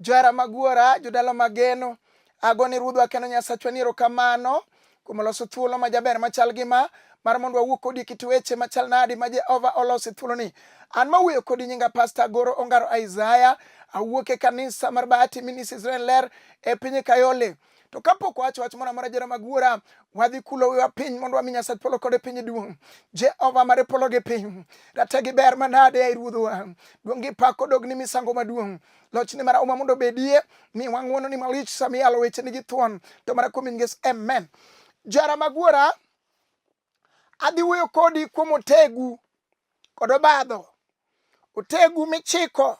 Johera mag wuora, jodala mageno, ago ni Ruodhwa kendo Nyasachwa ni erokamano kuom loso thuolo ma jaber machal gi ma mar mondo wawuo kodi kit weche machal nadi ma Jehova oloso e thuoloni. An mawuoyo kodi nyinga Pasta Agoro Ongaro Isaya, awuok e kanisa mar Bahati Ministries Ren Ler e piny Kayole. to kapok wawacho wach moro amora jera mag wuora wadhi kulo wiwa piny mondo wami nyasach polo kod e piny duong' jehova mare polo gi piny rate gi ber manade ai ruodhowa duong' gi pak odog ni misango maduong' lochni mara uma mondo obedie ni wang'uono ni malich sami yalo wecheni gi thuon to mara kuom in nges amen jara mag wuora Adhi wuoyo kodi kuom otegu kod obadho. Otegu michiko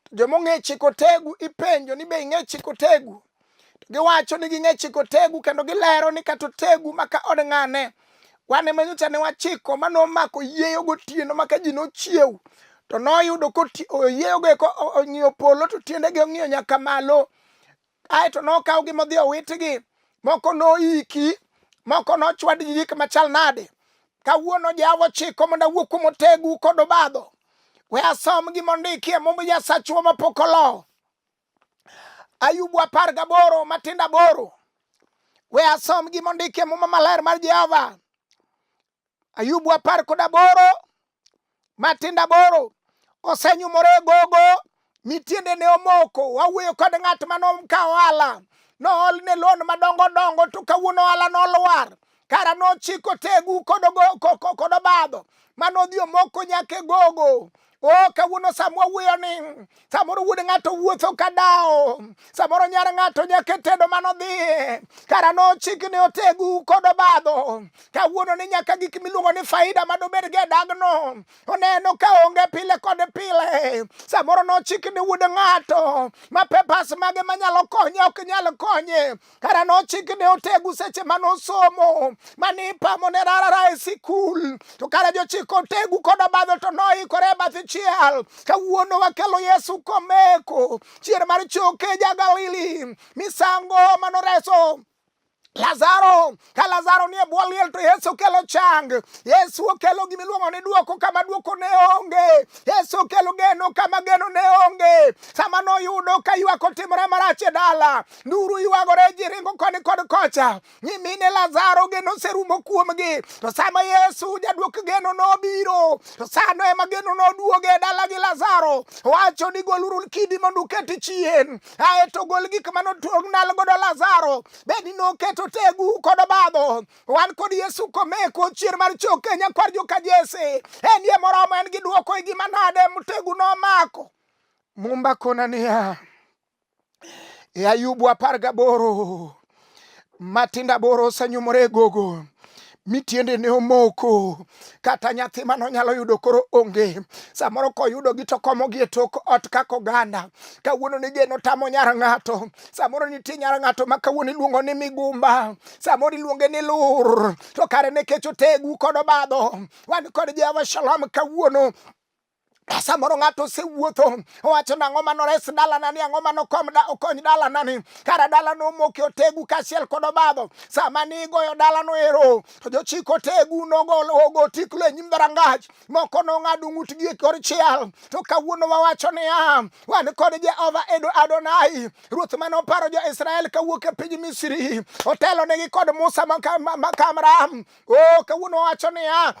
to joma ong'e chiko otegu ipenjo ni be ing'e chiko otegu to giwacho ni ging'e chiko otegu kendo gilero ni kata otegu maka od ng'ane wane ma nyocha ne wachiko ma nomako yieyo gotieno maka ji nochiew to noyudo koyieyogo eko ong'iyo polo to tiendege ong'iyo nyaka malo Kae to nokawgi modhi owitgi, moko noiki, moko nochwad gi gik machal nade. Kawuono Jehova ochiko mondo awuo kuom otegu kod obadho. We asom gima ondiki e Mumb Nyasachwa mapok olo. Ayubu apar gaboro matindo aboro. We asom gima ondiki e Muma Maler mar Jehova. Ayubu apar kod aboro matindo aboro osenyumore e gogo mi tiende ne omoko wawuoyo kod ng'at ma nomka ohala nool ne lon madongo dongo to kawuono ohala nolwar kara nochiko tegu kod obadho ma nodhi omoko nyaka e gogo Oh, kawuono samwa wuoyo ni samoro wuod ng'ato wuotho ka dawo samoro nyar ng'ato nyaka tedo mano dhi kara nochik ni otegu kod obadho kawuono ni nyaka gik miluongo ni faida ma dobed gi e dagno oneno ka onge pile kod pile samoro nochik ni wuod ng'ato ma pepas mage manyalo konye ok nyal konye kara nochik ne otegu seche ma nosomo mane ipamo ne rarara e sikul to kara jochik otegu kod obadho to noikore e bath chiel kawuono wakelo yesu komeko chier mar choke ja galili misango manoreso Lazaro Ka Lazaro nie bwo liel to Yesu okelo chang. Yesu okelo gima iluongo ni duoko kama duoko ne onge. Yesu okelo geno kama geno ne onge. Sama noyudo ka ywak otimore marach e dala, nduru ywagore ji ringo koni kod kocha. Nyimine Lazaro geno oserumo kuomgi. To sama Yesu jaduok geno nobiro, to sano ema geno noduoge e dala gi Lazaro. Wacho ni goluru kidi mondo uket chien. Aeto gol gik mane otuog nal godo Lazaro. bed ni noketo tegu kod obadho wan kod yesu komeko chier mar choke nyakwar joka jese en ye moromo en gi dwoko e gima nade mtegu nomako mumba kona niya e ayubu apar gaboro matinda boro osenyumore e gogo mi tiende ne omoko kata nyathi mane onyalo yudo koro onge samoro koyudogi to komogi e tok ot kaka oganda kawuono ni geno tamo nyar ng'ato samoro nitie nyar ng'ato ma kawuono iluongo ni migumba samoro iluonge ni lur to kare ne kech otegu kod obadho wan kod jehova shalom kawuono Samoro ng'ato osewuotho owacho nang'o ma nores dalanani, ang'o ma nokony dalanani, kara dalano omoki otegu kaachiel kod obadho. Sama nigoyo dalano ero, to jochik otegu nogo tiklo e nyim dhorangach, moko nong'ado ng'utgi e kor chiel. To kawuono wawacho niya, wan kod Jehova Edo Adonai, ruoth mane oparo jo-Israel kawuok e piny Misri, otelonegi kod Musa ma Kamram. O, oh, kawuono wawacho niya,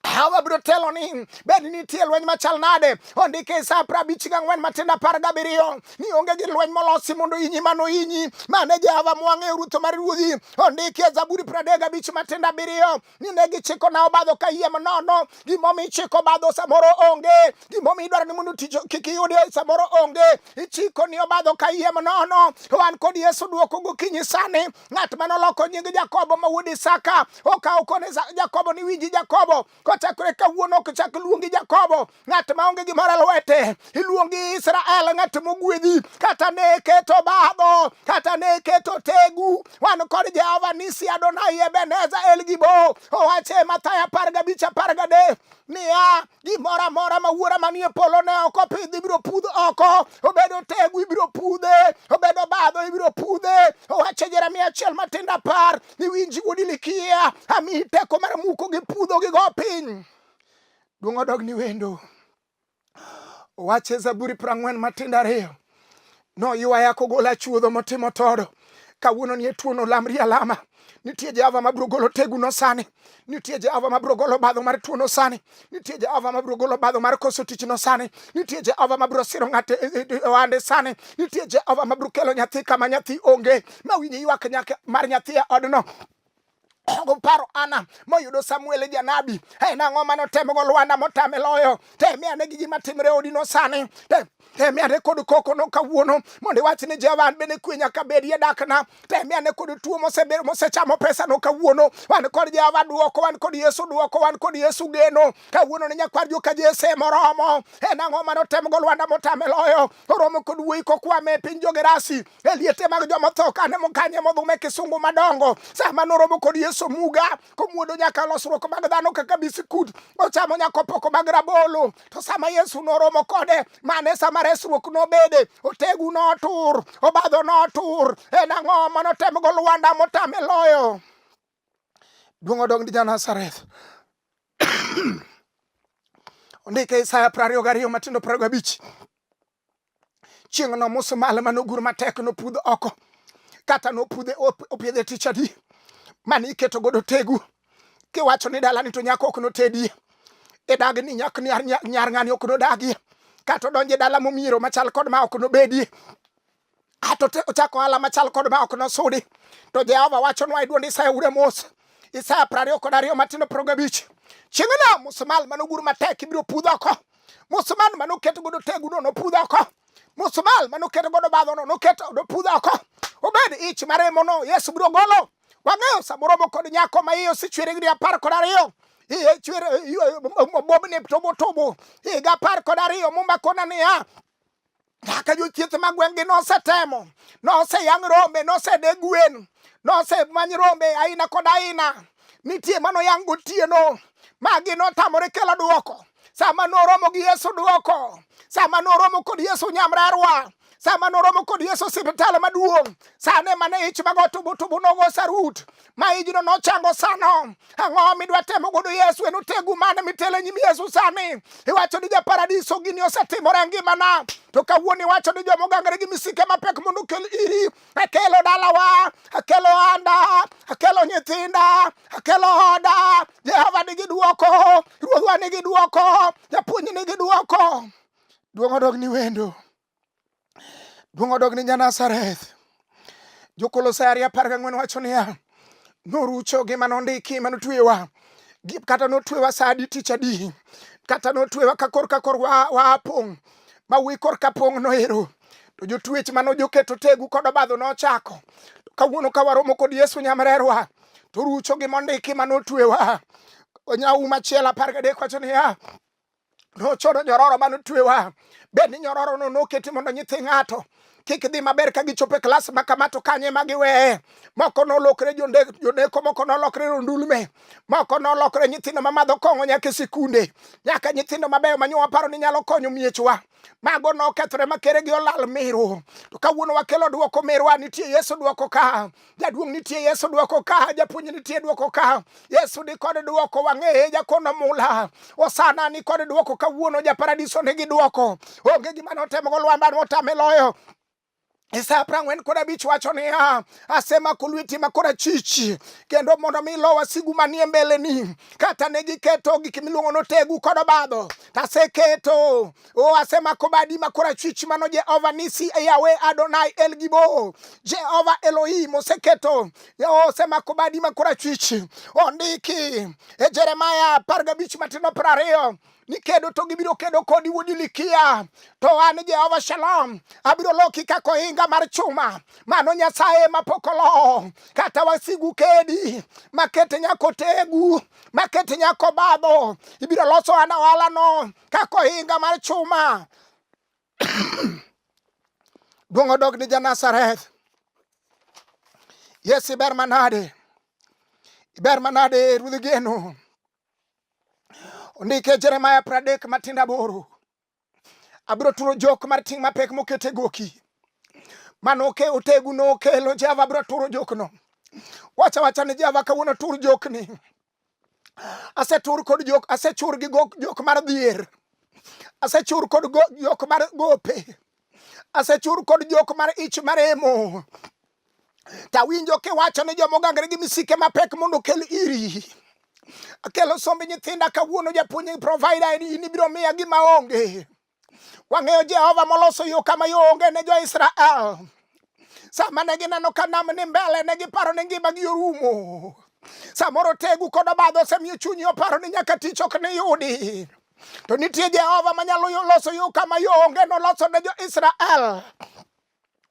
Hawa biro telo ni bed ni nitie lweny machal nade ondike e sa pra abich gang'wen matindo apar gabiriyo ni onge gi lweny molosi mondo inyi mano inyi mane Jehova mwang'eyo rutho mar ruodhi ondike e Zaburi pradek gabich matindo abiriyo ni ne gichiko na obadho ka yiem nono gimomi ichiko obadho samoro onge gimomi idwaro ni mondo tich kik iyudi samoro onge ichiko ni obadho ka yiem nono wan kod Yesu dwoko gokinyi sani ng'at mane oloko nying Jakobo ma wuod Isaka okawo kone Jakobo ni winji Jakobo kochakore kawuono ok chak luongi Jakobo ng'at ma onge gimoro lwete iluongi Israel ng'at mogwedhi kata ne keto badho kata ne keto tegu wan kod Jehova nisi Adonai Ebeneza El Gibo owache Mathayo apar gabich apar gadek niya gimoro amora ma wuora manie polo ne ok opidhi ibiro pudh oko obedo tegu ibiro pudhe obedo badho ibiro pudhe owacho jeremia achiel matindo apar ni winji wuodi likia amiyi teko mar muko gi pudho gi go piny duong' odog ni wendo owache zaburi prang'wen matindo ariyo noywaya kogola chuodho motimo todo kawuono ni e tuono lamri alama nitie jehova mabiro golo teguno sani nitie jehova mabiro golo badho mar tuono sani nitie jehova mabiro golo badho mar koso tichno sani nitie jehova mabiro siro ng'ate e, e, e, ohande sani nitie jehova mabiro kelo nyathi kama nyathi onge mawinji ywak mar nyathi e odno Ongo paro Ana moyudo Samuel e janabi. Hey, nang'o mane otemogo Lwanda motame loyo? Temie ane gi gima timre odino sani. Temie ane kod kokono kawuono mondo iwach ni Jehova an bende kwe nyaka bedie dakna. Temie ane kod tuo mosebedo mosechamo pesano kawuono. Wan kod Jehova duoko, wan kod Yesu duoko, wan kod Yesu geno. Kawuono ni nyakwar joka Jese moromo. Hey, nang'o mane otemogo Lwanda motame loyo? oromo kod wuoyi kokwame e piny jogerasi e liete mag joma tho kane mokanye modhume kisungu madongo sama noromo kod yesu muga komuodo nyaka losruok mag dhano kaka bisikut ochamo nyaka opoko mag rabolo to sama yesu noromo kode mane sama resruok nobede otegu notur obadho notur en ang'o manotemgo lwanda motame loyo Duong' odog ni ja Nazareth. Ondike Isaya prariyo gariyo matindo prariyo gabich. Chieng'no musmal mane ogur matek nopudh oko kata nopudhe opiedhe tich adi mane iketo godo tegu kiwacho ni dalani to nyako ok notedie idag ni nyak nyar ng'ani ok nodagie kata odonje dala momiero machal kod ma ok nobedie ato ochako ohala machal kod ma ok nosudi to jehova wachonwa e duond isaya ure mos isaya prariyo kod ariyo matindo progo abich chieng'no musumal manogur matek ibiro pudh oko musumal manoket godo teguno nopudh oko musumal manoket godo badhono noket nopudh oko obed ich maremono yesu biro golo wang'eyo samoro moko kod nyako ma iye osechwere gi apar kod ariyo iye chwere obobni tobotobo higa apar kod ariyo mumakona niya nyaka jothieth ma gweng'gi nosetemo noseyang rombe nosede gwen nosemany rombe aina kod aina nitie manoyang gotieno magi notamore kelo dwoko sama noromo gi yesu dwoko sama noromo kod yesu nyamrerwa sama noromo kod yesu siptal maduong' sane mane ich mago tubutubu nogo sarut ma ijno nochango sano. Ang'o midwa temo godo Yesu? En otegu mane mitele nyim Yesu sani? Iwacho ni japaradiso gini osetimore ngimana, to kawuono iwacho ni joma ogangre gi misike mapek mondo okel iri. Akelo dalawa, akelo anda, akelo nyithinda, akelo oda. Jehova nigi dwoko, Ruodhwa nigi dwoko, Japuonj nigi dwoko. Duong' odog ni wendo. Duong' odog ni Janazareth. Jokolosai ariyo apar gang'wen wacho niya, norucho gi mane ondiki mane otwewa kata notwewa sa adi tich adi kata notwewa ka kor ka kor waa pong' ma wi kor ka pong' noero to jotwech mane ojoketo tegu kod obadho nochako kawuono ka waromo kod Yesu nyamrerwa to rucho gi mondiki mane otwewa onyawu machielo apar gadek wacho niya nochodo nyororo mane otwewa bed ni nyororono noketi mondo nyithi ng'ato kik dhi maber ka gichopo e klas ma kama to kanye ma giweye moko nolokre joneko moko nolokre rondulme moko nolokre nyithindo mamadho kong'o nyaka e sikunde nyaka nyithindo mabeyo manyo waparo ni nyalo konyo miechwa mago nokethore makere gi olal miru to kawuono wakelo dwoko mirwa nitie yesu dwoko ka jaduong' nitie yesu dwoko ka japuonj nitie dwoko ka yesu ni kod dwoko wang'eye jakono mula osana ni kod dwoko kawuono japaradiso nigi dwoko onge gima notemogo lwanda notame loyo Isaya prang'wen kod abich wacho niya, asemako lweti ma korachich kendo mondo mi ilo wasigu manie mbeleni. Kata ne giketo gik miluongo notegu kod obadho, to aseketo o asemako badi ma korachwich mano Jehova nisi e Yawe Adonai El Gibo. Jehova Elohim oseketo osemako badi ma korachwich. Ondiki e Jeremaya apar gabich matindo piero ariyo nikedo to gibiro kedo kodi wuod Ilikia, to an Jehova Shalom abiro loki kaka ohinga mar chuma, mano Nyasaye mapok olo. Kata wasigu kedi makete nyako tegu makete nyako badho, ibiro loso an ohalano kaka ohinga mar chuma. Duong' odog ni Janazareth. Yesu iber manade, iber manade ruodh geno. Ondike Jeremiah pradek matinda boro. Abiro turo jok mar ting' mapek mokete goki. Mano ke otegu no kelo Jehova abiro turo jok no. Wacha wacha ni Jehova kawuono tur jok ni. Asetur kod jok, asechur gi gok- jok mar dhier. Asechur kod go- jok mar gope. Asechur kod jok mar ich maremo. to awinjo kiwacho ni joma ogangre gi misike mapek mondo okel iri akelo somb nyithinda kawuono japuonj provider en in ibiro miya gima onge wang'eyo jehova moloso yo kama yo onge ne jo-israel sama ne gineno ka nam ni mbele ne giparo ni ngimagi orumo samoro tegu kod obadho osemiyo chunyi oparo ni nyaka tich ok niyudi to nitie jehova manyalo loso yo kama yo onge noloso ne jo-israel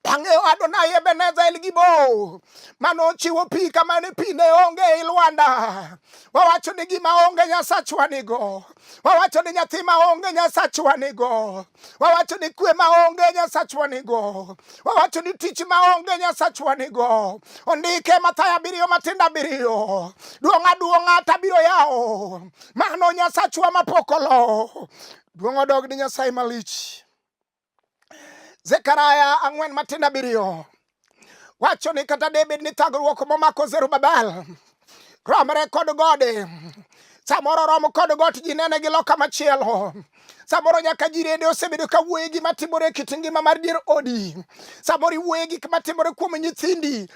Bang'e Adonai Ebeneza El Gibo mane ochiwo pi kama ni pi ne onge e i lwanda. Wawacho ni gima onge Nyasachwa nigo. Wawacho ni nyathi ma onge Nyasachwa nigo. Wawacho ni kwe ma onge Nyasachwa nigo. Wawacho ni tich ma onge Nyasachwa nigo. Ondike Mathayo abiriyo matindo abiriyo. Duong' aduong'a tabiro yawo. Mano Nyasachwa mapok olo. Duong' odog ni Nyasaye malich. Zekaria ang'wen matin abiriyo wacho ni kata David ni thagruok momako Zerubabel romre kod gode samoro romo kod got ji nene gi loka machielo samoro nyaka ji rede osebedo ka wuoye gima timore e kit ngima mar dier odi samoro iwuoye gik matimore kuom nyithindi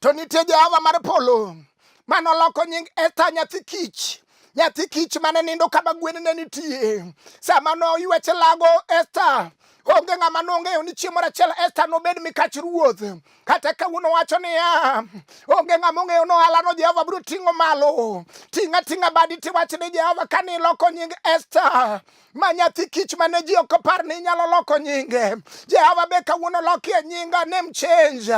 to nitie Jehova mar polo mane oloko nying Esta nyathi kich nyathi kich mane nindo kama gwen ne nitie sama noywech lago Esta onge ng'ama nong'eyo ni chieng' moro achiel Esta nobed mikach ruoth kata kawuono wacho niya onge ng'ama ong'eyo nohalano Jehova biro ting'o malo ting'a ting'a badi tiwach ni Jehova kane iloko nying Esta ma nyathi kich mane ji ok opar ni inyalo loko nyinge jehova be kawuono lokie nyinga name change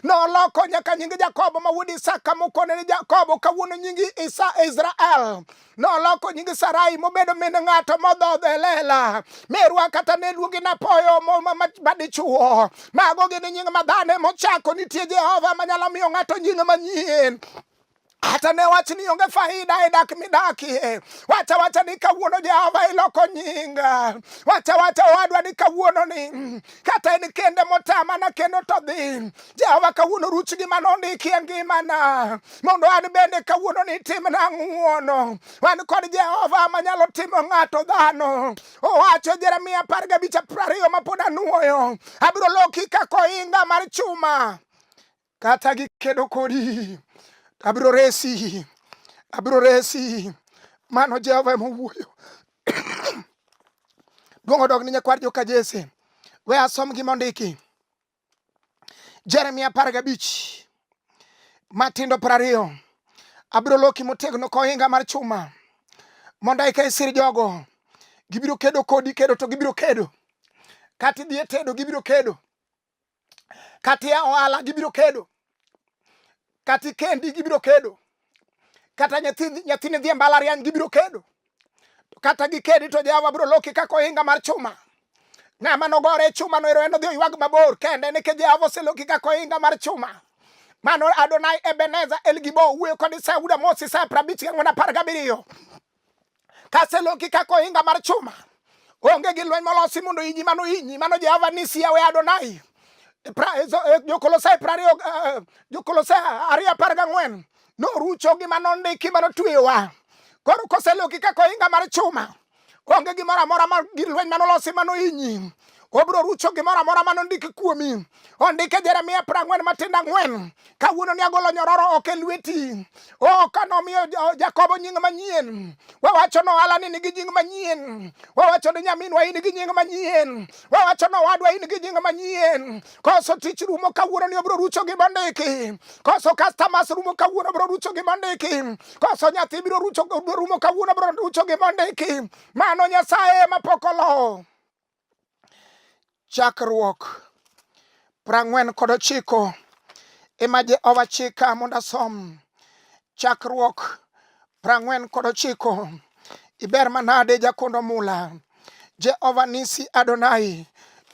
noloko nyaka nying jakobo ma wuod isaka mokone ni jakobo kawuono nying isa israel noloko nying sarai mobedo min ng'ato modhodho e lela merwa kata ne luongi napoyo madichuo mago gin nying madhane mochako nitie jehova manyalo miyo ng'ato nying manyien hata ne wach ni onge faida e dak midakie. Wacha wacha ni kawuono Jehova iloko nyinga. Wacha wacha owadwa ni kawuono ni kata en kende motama na kendo to dhi. Jehova kawuono ruch gi mano ndikie ngimana. Mondo an bende kawuono ni timna ng'uono. Wan kod Jehova manyalo timo ng'ato dhano. Owacho Jeremia apar gabich apar ariyo ma pod anuoyo. Abiro loki ka koinga mar chuma. Kata gikedo kodi, abiro resi, abiro resi. Mano Jehova ema owuoyo. Duong' odog ni nyakwar joka Jesse. We asom gima ondiki. Jeremia apar gabich matindo piero ariyo abiro loki motegno kohinga mar chuma mondo eka isir jogo gibiro kedo kodi kedo to gibiro kedo kata idhi e tedo gibiro kedo kata ia ohala gibiro kedo kata ikendi gibiro kedo kata nyathini dhi e mbalariany gibiro kedo kata gikedi to jehova biro loki kaka ohinga mar chuma ng'ama nogore e chuma no ero en odhi oywag mabor kende nikech jehova oseloki kaka ohinga mar chuma mano adonai ebeneza elgibo wuoyo kod isaya wuda mos isaya prabich gang'wen apar gabiriyo kaseloki kaka ohinga mar chuma onge gi lweny molosi mondo inyi mano inyi mano jehova nisi yawe adonai e e, jokolosai prariyo e, jokolosai ariyo apar gang'wen norucho gi mano ndiki mano tweyowa koro koseloki kaka ohinga mar chuma onge gimoro amora ma gi lweny manolosi mano inyi obiro rucho gimoro amora mane ondiki kuomi ondike jeremia piero ang'wen matindo ang'wen kawuono ni agolo nyororo ok e lweti o kanomiyo jakobo nying manyien wawacho ni ohala ni nigi nying manyien wawacho ni nyaminwa in gi nying manyien wawacho ni owadwa in gi nying manyien koso tich rumo kawuono ni obiro rucho gima ondiki koso customers rumo kawuono obiro rucho gima ondiki koso nyathi biro rucho rumo kawuono obiro rucho gima ondiki mano nyasaye mapok olowo Chakruok prang'wen kod ochiko ema Jehova chika mondo asom. Chakruok prang'wen kod ochiko iber manade jakondo mula Jehova nisi Adonai.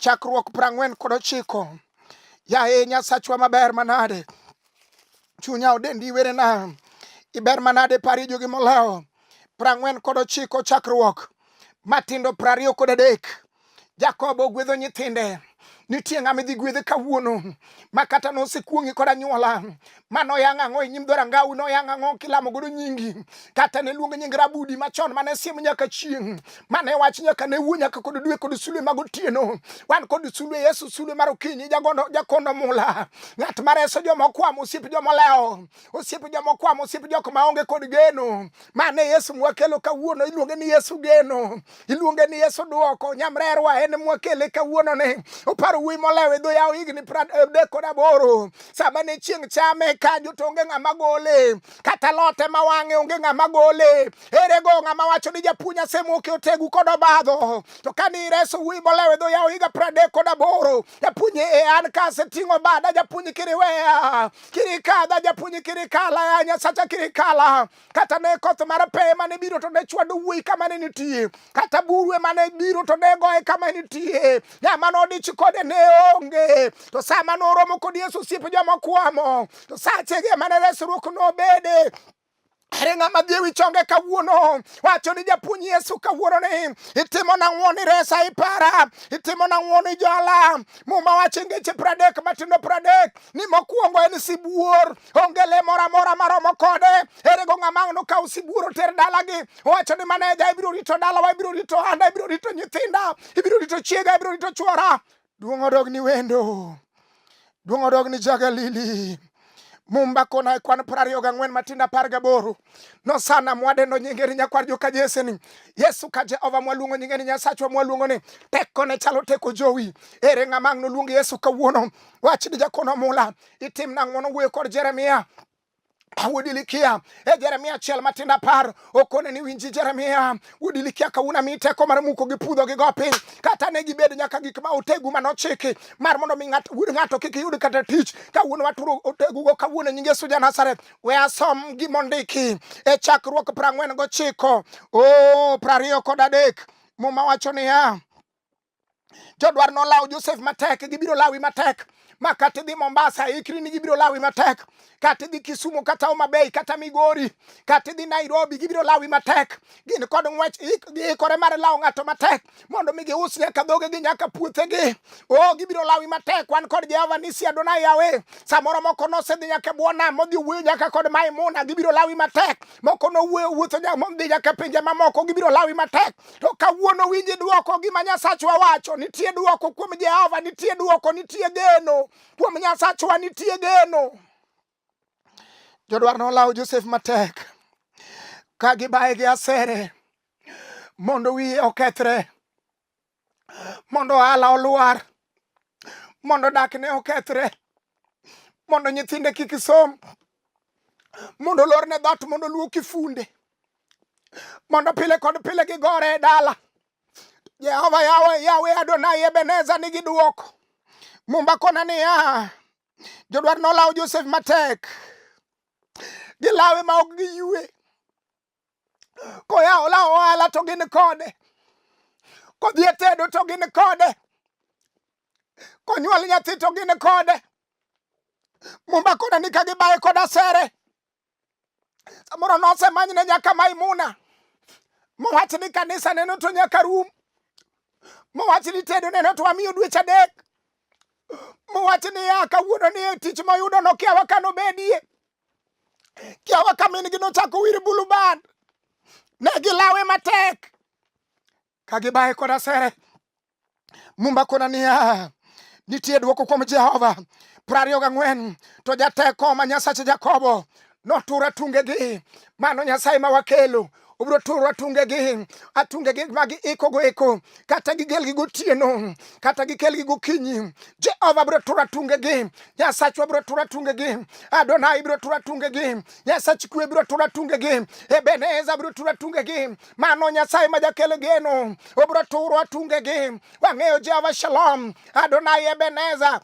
Chakruok prang'wen kod ochiko yaye Nyasachwa maber manade chunya odendi iwerena iber manade pari jogi molewo prang'wen kod ochiko chakruok matindo prariyo kod adek jakobo ogwedho nyithinde nitie ng'ama idhi gwedhe kawuono ma kata nosekuong'i kod anyuola ma noyang' ang'o e nyim dho rangawi noyang' ang'o kilamo godo nyingi kata ne luongo nying rabudi machon mane siemo nyaka chieng' mane wach nyaka ne wuo nyaka kod dwe kod sulwe mag otieno wan kod sulwe yesu sulwe mar okinyi jagondo jakondo mula ng'at ma reso joma okwamo osiep joma olewo osiep joma okwamo osiep jok ma onge kod geno mane yesu mwakelo kawuono iluonge ni yesu geno iluonge ni yesu dwoko nyamrerwa en mwakele kawuono ni oparo wuoyi molewo e dho yawo higni pradek eh, kod aboro sama ne chieng' chame ka jotonge ng'ama gole kata lote ma wang'e onge ng'ama gole Ere go ng'ama wacho ni japuonj asemuoke otegu kod obadho to kane ireso wuoyi molewe dho yawo higa pradek kod aboro japuonj e an ka aseting'o bada japuonj kiriweya kirikadha japuonj kirikala ya nyasacha kirikala kata ne koth mar peye mane biro to ne chwado wuoyi kama ne nitie kata burwe mane biro to ne goye kama nitie ng'ama nodich kode ne onge to sama noromo kod yesu osiepe joma kwamo to sachege mane resruok nobede Ere ng'ama dhi ewi chonge kawuono wacho ni japuonj Yesu kawuono ni itimo nang'o ni resa ipara, itimo nang'o ni jala. Muma wacho ngeche pradek matindo pradek ni mokwongo en sibuor, onge le moro amora maromo kode. Ere go ng'ama no kawo sibuor oter dalagi owacho ni maneja ibiro rito dalawa, ibiro rito handa, ibiro rito nyithinda, ibiro rito chiega, ibiro rito chwora Duong' odog ni wendo, duong' odog ni Jagalili. Mumba kona e kwan piero ariyo gang'wen matindo apar gaboro nosana mwadendo nyinge ni nyakwar joka Jese ni Yesu ka Jehova mwaluongo nyinge ni Nyasachwa mwaluongo ni teko ne chalo teko jowi ere ng'ama ang' noluong Yesu kawuono wach ni jakono mula itimna ng'wono wuoyo kod Jeremia Awudilikia e Jeremia achiel matindo apar okone ni winji Jeremia wudilikya kawuna mi teko mar muko gi pudho gi go piny kata ne gibed nyaka gik ma otegu ma nochiki mar mondo mi wud ng'ato kik yud kata tich kawuono waturo otegu go kawuono nyinge Yesu ja Nazareth we asom gimondiki e chakruok prang'wen gochiko o prariyo kod adek muma wacho niya jodwar nolawo Josef matek, gibiro lawi matek ma kata idhi Mombasa ikri ni gibiro lawi matek, kata idhi Kisumu kata Homa Bay kata Migori kata idhi Nairobi gibiro lawi matek. Gin kod ng'wech giikore mar lawo ng'ato matek mondo mi gius nyaka dhogegi nyaka puothegi. O gibiro lawi matek. Wan kod Jehova Nisi Adonai Yahweh. Samoro moko nosedhi nyaka bwo nam modhi wuoyo nyaka kod Maimuna gibiro lawi matek. Moko nowuoyo wuotho nyaka modhi nyaka pinje mamoko gibiro lawi matek. To kawuono winji dwoko gima Nyasachwa wacho, nitie dwoko kuom Jehova, nitie dwoko, nitie geno kuom Nyasachwa, nitie geno. Jodwar nolawo Josef matek ka gibaye gi asere mondo wiye okethre, mondo ohala olwar, mondo dakne okethre, mondo nyithinde kik som, mondo lorne dhat, mondo luoki funde. mondo pile kod pile gigore e dala. Jehova yawe yawe Adonai Ebeneza nigi duoko. Mumba kona niya, jodwar nolawo Josef matek, gilawe ma ok giyue. Koya olawo ohala to gin kode, kodhi e tedo to gin kode, konyuol nyathi to gin kode. Mumba kona ni ka gibaye koda sere samoro nosemanyne nyaka maimuna mowach ni kanisa neno to nyaka rum mowach ni tedo neno to wamiyo dweche adek mowach ni ya kawuono ni tich moyudo nokiawa ka nobedie kiawa ka min gi nochako wir bulubad ne gilawe matek ka gibaye kod asere. Mumba kona niya, nitie dwoko kuom Jehova. Prariyo gang'wen, to jateko ma Nyasach Jakobo notur atungegi. Mano Nyasaye ma wakelo obiro turo atungegi atungegi ma giikogo eko kata gigelgi gotieno kata gikelgi gokinyi jehova biro turo atungegi nyasachwa biro turo atungegi adonai biro turo atungegi nyasach kwe biro turo atungegi ebeneza biro turo atungegi Mano Nyasaye ma jakel geno, obro turo atungegi. Wang'eyo Jehova Shalom, Adonai Ebeneza,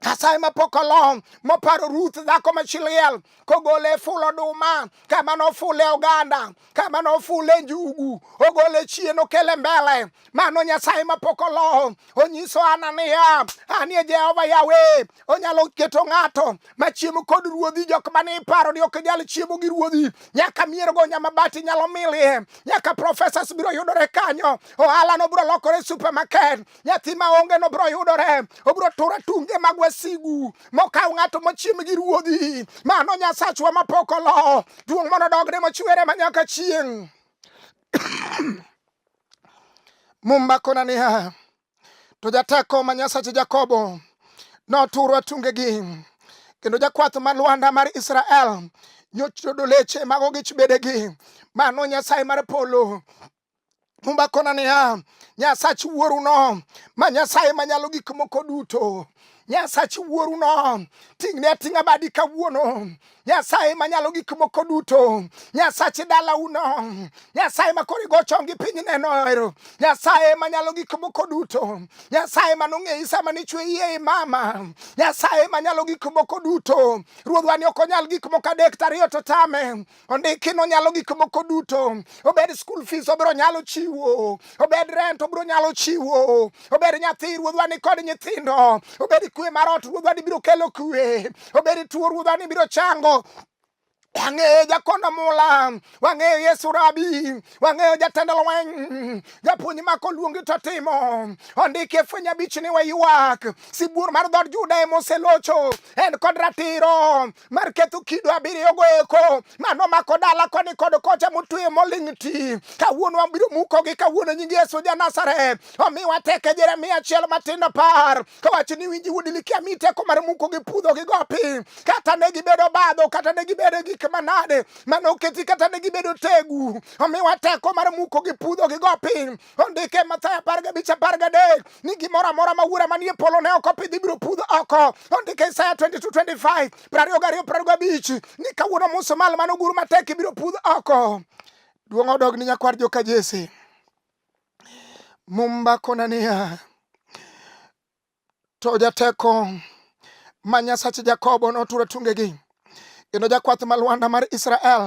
Nyasaye ma pok olom moparo Ruth dhako ma chiliel kogole e ful oduma kama nofule oganda kama nofule njugu ogole chien okele mbele mano nyasaye mapok oloho onyiso ana niya anie jehova yawe onyalo keto ng'ato machiemo kod ruodhi jok mane iparo ni ok nyal chiemo gi ruodhi nyaka miergo nyamabati nyalo milie nyaka professors biro yudore kanyo ohala no biro lokore supermarket nyathi maonge no biro yudore obiro tura tunge mag wasigu mokaw ng'ato mochiem gi ruodhi mano nyasachwa mapok oloho duong' mondo dogne mochwere manyaka chieng' Mumba kona niya, to jateko ma Nyasache Jakobo noturo atungegi, kendo jakwath ma Lwanda mar Israel nyochodo leche mago gi chbedegi. Mano Nyasaye mar polo Mumba kona niya, Nyasach wuoruno ma Nyasaye manyalo gik moko duto Nyasach wuoruno ting'ne ating'a badi kawuono. Nyasaye manyalo gik moko duto, Nyasach dalauno, Nyasaye ma koro igo chongi piny nenoero, Nyasaye manyalo gik moko duto, Nyasaye manong'eyi sama nichwe iye i mama, Nyasaye manyalo gik moko duto. Ruodhwa ni ok onyal gik moko adek tariyo to tame, ondiki ni onyalo gik moko duto obed school fees obiro nyalo chiwo obed rent obiro nyalo chiwo obed nyathi ruodhwa ni kod nyithindo obed kwe mar ot ruodhwa ni biro kelo kwe obed tuo ruodhwa ni biro chango wang'eyo jakondo mula wang'eyo yesu rabi wang'eyo jatend lweny japuonj mako luongi to timo ondiki e fweny abich ni waywak sibuor mar dhod juda ema oselocho en kod ratiro mar ketho kido abiriyogo eko mano mako dala koni kod kocha motweyo moling' ti kawuono wabiro mukogi kawuono nying yesu ja nazareth omiwa teke jeremia achiel matindo par kawacho ni winji wuod likia mi teko mar mukogi pudhogi go piny kata ne gibedo badho kata ne gibedo gik manade mane oketi kata ne gibedo tegu omiwa teko mar muko gi pudho gi go piny ondike Mathayo apar gabich apar gadek ni gimoro amora ma wuora manie polo ne ok opidhi biro pudho oko ondike Isaya 22:25 prariyo gariyo prariyo gabich ni kawuono musumal mane ogur matek ibiro pudh oko duong' odog ni nyakwar joka Jesse mumba kona niya To jateko ma Nyasach Jakobo noturo tungegi, kendo jakwath ma Lwanda mar Israel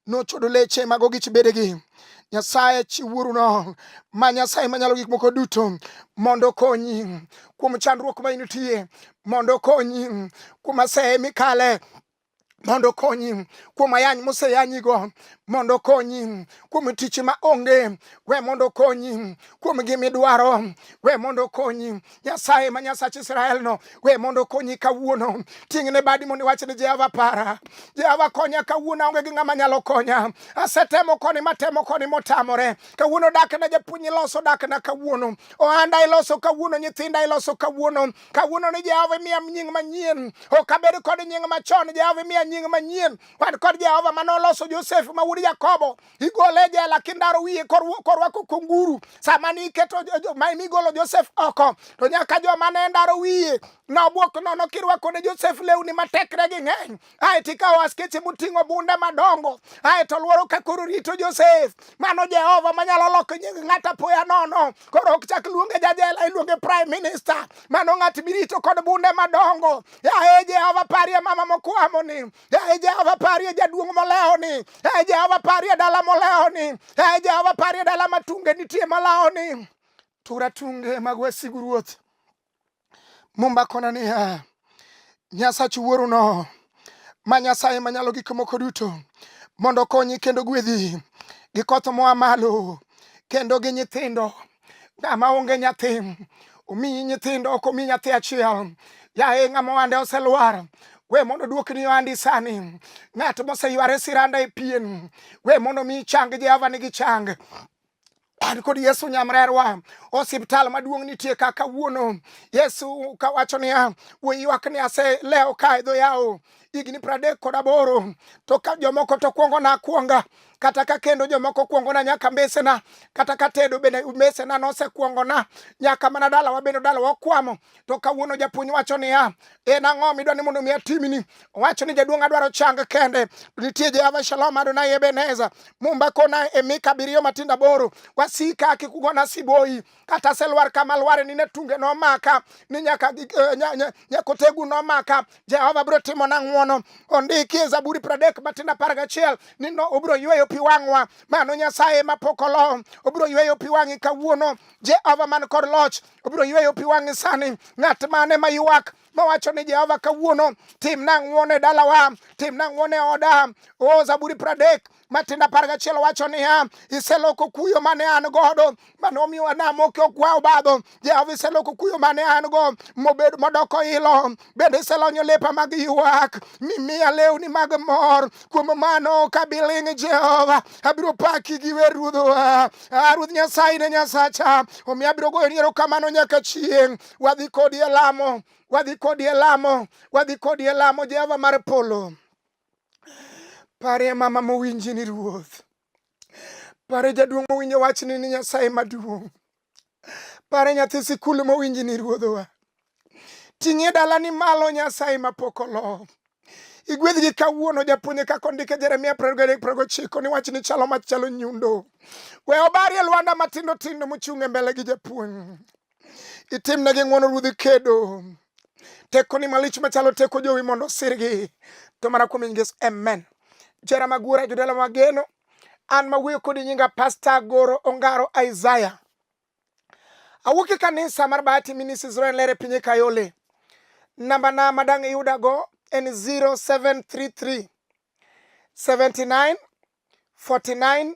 nochodo leche mag ogich bedegi. Nyasaye chiwuoruno ma Nyasaye manyalo gik moko duto mondo okonyi kuom chandruok ma initie, mondo okonyi kuom aseye mikale mondo okonyi kuom ayany moseyanyigo mondo okonyi kuom tich ma onge we mondo okonyi kuom gimidwaro we mondo okonyi nyasaye ma nyasach israel no we mondo okonyi kawuono ting'ne badi mondo iwach ni jehova para jehova konya kawuono aonge gi ng'ama nyalo konya asetemo koni matemo koni motamore kawuono dakna japuonj iloso dakna kawuono ohanda iloso kawuono nyithinda iloso kawuono kawuono ni Jehova imiya nying manyien, ok abed kod nying machon. Jehova imiya nying manyien. Wan kod Jehova mane oloso Josef ma wuod Jakobo, igole e jela kindaro wiye korwako kunguru. Sama ne iketo ma nigolo Josef oko, to nyaka joma ne ndaro wiye nobwok nono kirwako ne Josef lewni ma tekregi ng'eny. ae to ikawo askeche moting'o bunde madongo ae to lworo ka koro rito Josef. Mano Jehova manyalo loko nying ng'at apoya nono. Koro ok chak luonge jajela, iluonge prime minister. Mano ng'at mirito kod bunde madongo. Yaye Jehova parie mama mokwamoni. Yaye Jehova parie jaduong' molewoni. Yaye Jehova parie dala molewoni. Yaye Jehova parie dala matunge nitie malawoni. Tura tunge mag wasigu ruoth. Mumba kona niya, Nyasach wuoruno ma Nyasaye manyalo gik moko duto mondo okonyi kendo gwedhi gi koth moa malo kendo gi nyithindo ng'ama onge nyathi omiyi nyithindo ok omi nyathi achiel yaye ng'ama ohande oselwar we mondo duokni ohandi sani ng'at moseyware siranda e pien we mondo mi chang jehova nigi chang an kod Yesu nyamrerwa osiptal maduong' nitie ka kawuono Yesu kawacho niya we ywak ni ase leo ka edho yawo higni pradek kod aboro to ka jomoko to kwongo na kwonga kata ka kendo jomoko kwongo na nyaka mbesena kata ka tedo bende mbesena nosekwongo na nyaka mana dalawa bende dalawa okwamo to kawuono japuonj wacho niya, en ang'o midwa ni mondo mi atimni? Owacho ni jaduong' adwaro chang kende. Nitie Jehova Shalom Adonai Ebeneza, Mumba kona e mika abiriyo matindo aboro, wasika kik ugona siboyi, kata selwar kama lware ni ne tunge nomaka, ni nyaka eh, nyakotegu nomaka, Jehova biro timo na ng'wono. Ondiki e Zaburi pradek matindo apar gachiel ni no obiro yweyo pi wang'wa, mano Nyasaye mapok olo, obiro yweyo pi wang'i kawuono, Jehova man kod loch obiro yweyo pi wang'e sani. Ng'at mane ma ywak mawacho ni Jehova kawuono timna ng'wono e dalawa, timna ng'wono e oda. O Zaburi pradek Matinda apar gachiel wacho niya, iseloko kuyo mane an godo mane omiyo anamo kiokwa obadho. Jehova iseloko kuyo mane an go mobedo modoko ilo. bende iselonyo lepa mag ywak mimiya lewni mag mor kuom mano kabiling' jehova abiro paki gi wer ruodhowa ah, ruoth nyasaye ne nyasacha omiyo abiro goyo niero kamano nyaka chieng' wadhi kodi e lamo wadhi kodi e lamo wadhi kodi e lamo jehova mar polo parie mama mowinji ni ruoth Pare jaduong' mowinjo wachni ni Nyasaye maduong'. Pare nyathi sikul mowinji ni ruodhowa. Ting'e dalani malo Nyasaye mapok olo. Igwedhgi kawuono japuonje kaka ondike Jeremia progochiko ni wachni chalo machalo nyundo. We obarie lwanda matindo tindo mochung' e mbele gi japuonj. itimnegi ng'wono ruodhi kedo tekoni malich machalo teko jowi mondo osirgi to mana kuom ingeso amen jera magura jodala mageno an mawuoyo kodi nyinga pasta goro ongaro isaya awuok e kanisa mar bahati minis israel lere pinye kayole namba na madang' iyudago en 0733 79 49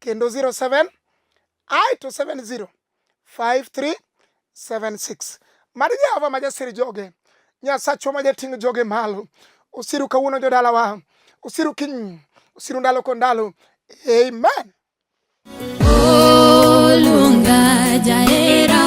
kendo 07 ae to 70 5376 mar jehova ma jasir joge nyasachwa ma jating' joge malo osiru kawuono jodalawa osiru kiny osiru ndalo ko ndalo amen olunga jaera